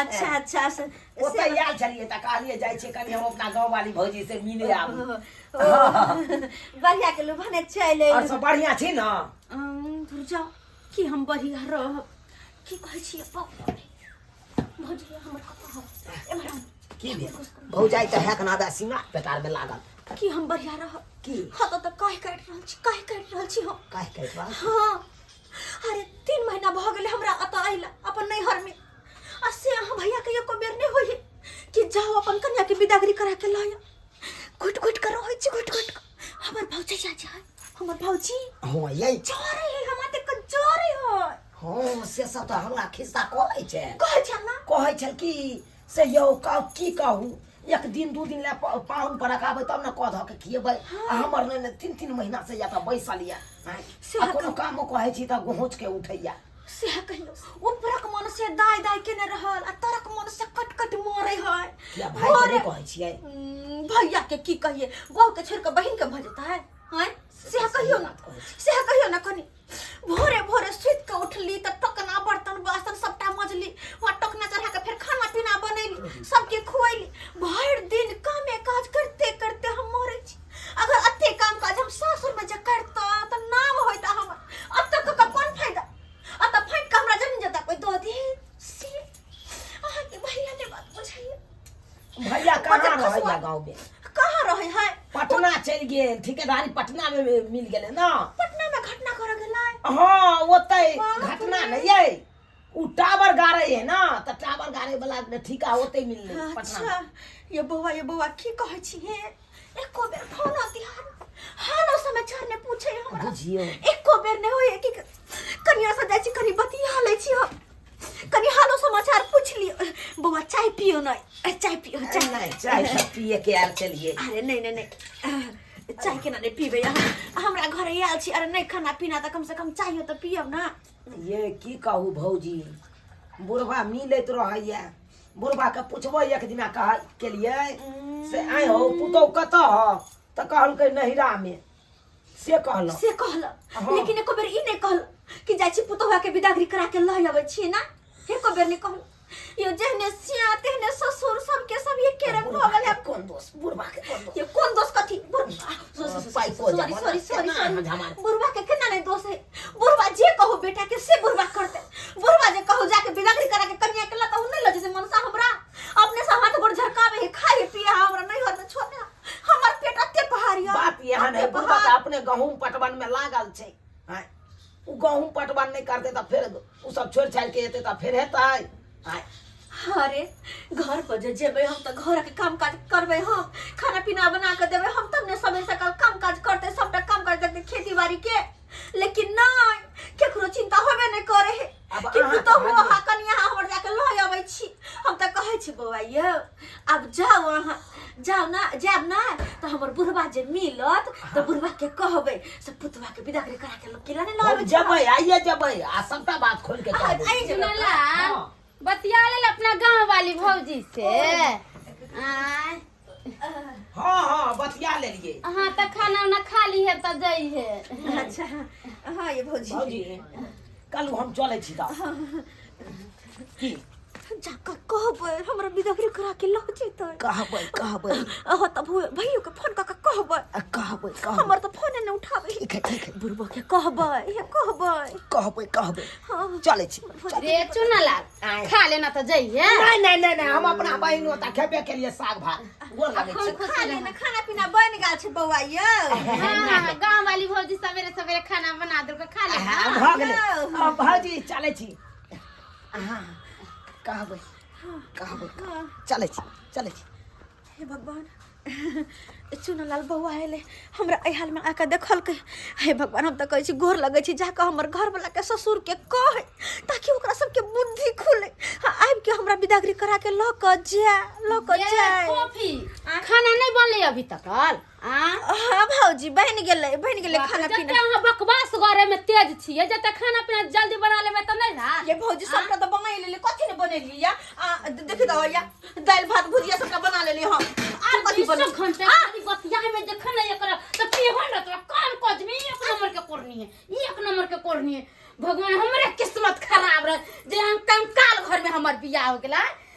अच्छा अच्छा से ओतै आयल छलियै तऽ कहलियै जाइ छियै कनि हम अपना गाँव वाली भौजी से मिले आबू बढ़िया के लोग भने चले और सब बढ़िया छी ना दूर जाओ कि हम बढ़िया रह की कहै छी बाप भौजी हमर कतऽ हो एमहर की भेल भौजाई तऽ हैक नादा सीमा पेटार में लागल की हम बढ़िया रह की हत तऽ काहे काटि रहल छी काहे काटि रहल छी हम काहे काटि रहल हां अरे तीन महीना भऽ गेलै हमरा एतऽ अइला अपन नैहर में आ से अहाँ भैया के एको बेर नहि होइए कि जाओ अपन कन्या के बिदागरी करा के लाया घुट घुट कर रहै छी घुट घुट हमर भौजी जा जा हमर भौजी हँ यही जोरे है हमरा ते क जोरे है हँ से सब तऽ हमरा खिस्सा कहै छै कहै छल ना कहै छल कि से यौ कहू की कहू एक दिन दू दिन लए प- पाहुन पर रखाबै तब ने कऽ धऽ के खिएबै आ हमर नहि ने तीन तीन महीना से या तऽ बैसल या आँय। से आ कोनो अखन- कामो कहै छी तऽ गोहोच के उठैया सएह कहियौ उपरक मन से दाय दाय केने रहल आ तरक मन से कट कट मरे है किया भाय के नहि कहै छियै उम्म, भैया के की कहिए बहू के छोड़ के बहिन के भऽ जेतै हैं सएह कहियौ ने बात कहै छी। सएह कहियौ ने कनी भोरे भोरे सुति कऽ उठली तऽ टोकना बर्तन बासन सबटा मजली वहाँ टोकना चढ़ा कऽ फेर खाना पीना बनैली सबके खुएली भरि दिन कामे काज करते करते हम मरै छी अगर अते काम काज हम सासुर में जे करता तऽ नाम होइता हमर अतऽ कऽ कऽ कोन फायदा अतऽ फाटि कऽ हमरा जमीन जता कोइ दऽ दे सी भैया कहाँ रहे या गाँव में कहाँ रहे है पटना चल गए ठेकेदारी पटना में मिल गए ना पटना में घटना कर गए हाँ ओते घटना नहीं है उ टावर गाड़े है ना तो टावर गाड़े वाला ने ठीका ओते मिल गए पटना अच्छा ये बौआ ये बौआ की कहे छी हे एको बेर फोन आती हन हालो समाचार ने पूछे हमरा बुझियो एको बेर ने होए कि कनिया से जाय छी कनी बतिया ले छी हम कनी हालो समाचार पूछ लियो बौआ चाय पियो ना अ, चाय पियो चाय ना नहीं चाय सब पिए के आर चलिए अरे नहीं नहीं नहीं अ, चाय केना नहीं पीबे अहाँ हमरा घरे आयल छी अरे नहीं खाना पीना तऽ कम से कम चाहियो तऽ पियब ना ये की कहू भौजी बुढ़वा मिलैत रहैया बुढ़वा के पूछबो एक दिना कह केलिए से आय हो पुतौ कतऽ हो तऽ कहलकै नहिरा में से कहलक से कहलक हँ। लेकिन एको बेर ई नहि कहलक कि जाइ छी पुतोहा के विदागरी करा के लऽ अबै छियै ना एको बेर नहि कहलक यो जहने सिया तेहने ससुर सबके सब ये के रंग भऽ गेल है कोन दोष बुढ़बा के कोन दोष ये कोन दोष कथी पाइ को सॉरी जमाना सॉरी सॉरी केना सॉरी हजामा बुढ़वा के केना नहीं दोष है बुढ़वा जे कहो बेटा के से बुढ़वा करते बुढ़वा जे कहो जाके बिदागरी करा के कन्या के लता उ नहीं लजे से मनसा हमरा अपने से हाथ गोड़ झरकावे है खाए पिए है हमरा नहीं होत छोड़ने हमर पेट एते पहाड़ यऽ बात यहाँ एते नहि बुझबा पहाड़। तऽ अपने गहूँम पटवन में लागल छै आँय, उ गहूँम पटवन नहि करते तऽ फेर उ सब छोड़ि छाड़ि के एते तऽ फेर हेतै आँय, अरे घर पर जे जेबै हम तऽ घर के काम काज करबै हम खाना पीना बना के देबै हम तब ने समय सकाल काम काज करते सबटा काम काज करते खेती बाड़ी के लेकिन नहि केकरो चिंता होबे नहि करे है आब कि अहाँ पुतहु कहलियै- अहाँ कनिया अहाँ हमर जाके लऽ अबै छी हम तऽ कहै छी बौआ यौ आब जाउ अहाँ जाउ ने जायब ने तऽ हमर बुढ़बा जे मिलत तऽ बुढ़बा के कहबै से पुतबा के विदा करे करा के लोग किला ने लऽ हम अबै छी जबै आइए जबै आ सबटा बात खोल के कह देबै। आइ जगह पर। सुनला बतिया लेल अपना गाँव वाली भौजी से आय हाँ हाँ बतिया ले लिए हाँ तो खाना उना खा ली है तो जाइ है अच्छा हाँ ये भौजी भौजी कल हम चले छी ता की जाका कहबै हमरा बिदागरी करा के लऽ जेतै कहबै कहबै अहो तब भैयो के फोन कऽ के कहबै आ कहबै कहबै हमर तऽ फोने नहि उठाबै ठीक है ठीक है बुढ़बो के कहबै हे कहबै कहबै कहबै चले छी रे चुना लाल आय। खा लेना तो जाइए नहीं नहीं नहीं नहीं हम अपना बहन होता खेबे के लिए साग भात गोर लगे छी खुश खा रहो। लेना खाना पीना बन गेल छै बौआ यौ हाँ, गाँव वाली भौजी सवेरे सवेरे खाना बना दो खा ले हाँ, भऽ गेलै अब भौजी चले छी हाँ कहबै कहबै चले छी चले छी हे भगवान चुन लाल बौआ एलै हमरा एहि हालमे आके देखलकै हे भगवान हम तऽ कहै छी गोर लगै छी जाकऽ हमर घरवलाके ससुरके कहै ताकि ओकरा सबके बुद्धि खुलै आ आबिके हमरा बिदागरी कराके लऽ कऽ जाय लऽ कऽ जाय खाना नहीं बनले अभी तक आ हाँ भौजी बहन गेलै बहन गेलै खाना जते पीना अहाँ बकवास करे में तेज छियै जते खाना पीना जल्दी बना लेबे त नहीं ना ये भौजी सबटा तऽ बना लेली कथी ने बनेली या आ देखि दहो या दालि भात भुजिया सबटा बना लेली हम आर कथी बन सब घंटे खाली बतियाए में जखन नहीं एकरा त पेहन न तोरा कान कद में एक नंबर के कोरनी है एक नंबर के कोरनी है भगवान हमरे किस्मत खराब रह जे हम कंकाल घर में हमर बियाह हो गेला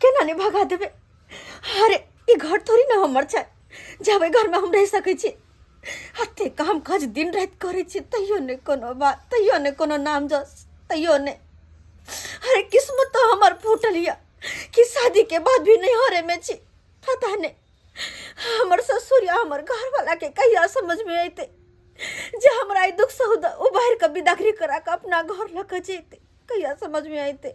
केना ने भगा देबै अरे ई घर थोड़ी ने हमर छै जाबै घरमे हम रहि सकै छी हते काम काज दिन राति करै छी तैयो नहि कोनो बात तैयो नहि कोनो नाम जस तैयो नहि अरे किस्मत तो हमर फूटल यऽ कि शादीके बाद भी नहि हरेमे छी पता नहि हमर ससुर या हमर घरवालाके कहिया समझमे अयतै जे हमरा ई दुख सहुद उबारि कऽ बिदागरी करा कऽ अपना घर लऽ कऽ जैतै कहिया समझमे अयतै